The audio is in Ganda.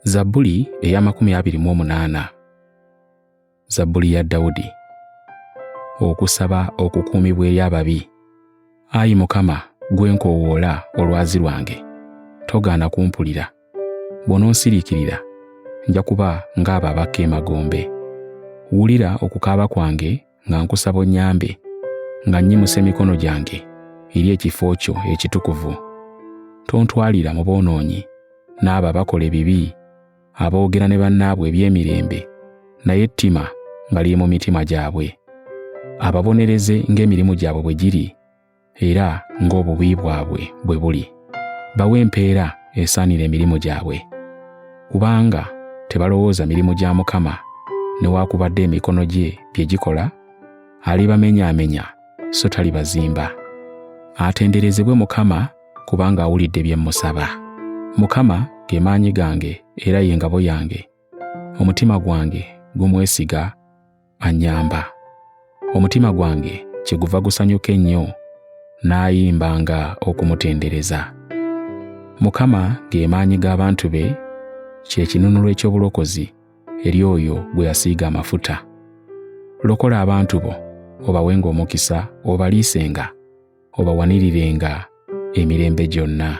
zabbuli ey'amakumi abiri mu omunaana zabbuli ya dawudi okusaba okukuumibwa eri ababi ayi mukama gwe nkoowoola olwazi lwange togaana kumpulira bw'ononsiriikirira nja kuba ng'abo abakka emagombe wulira okukaaba kwange nga nkusaba onnyambe nga nnyimusa emikono gyange eri ekifo kyo ekitukuvu tontwalira mu boonoonyi n'abo abakola ebibi aboogera ne bannaabwe eby'emirembe naye ettima nga liri mu mitima gyabwe ababonereze ng'emirimu gyabwe bwe giri era ng'obubi bwabwe bwe buli bawe empeera esaanira emirimu gyabwe kubanga tebalowooza mirimu gya mukama newaakubadde emikono gye bye gikola alibamenyaamenya so talibazimba atenderezebwe mukama kubanga awulidde bye mmusaba mukama ge maanyi gange era ye ngabo yange omutima gwange gumwesiga anyamba. Omutima gwange kyeguva gusanyuka ennyo n'ayimba nga okumutendereza. Mukama ge maanyi g'abantu be, kye kinunulo eky'obulokozi eri oyo gwe yasiiga amafuta. Lokola abantu bo, obawenga omukisa, obaliisenga, obawanirirenga emirembe gyonna.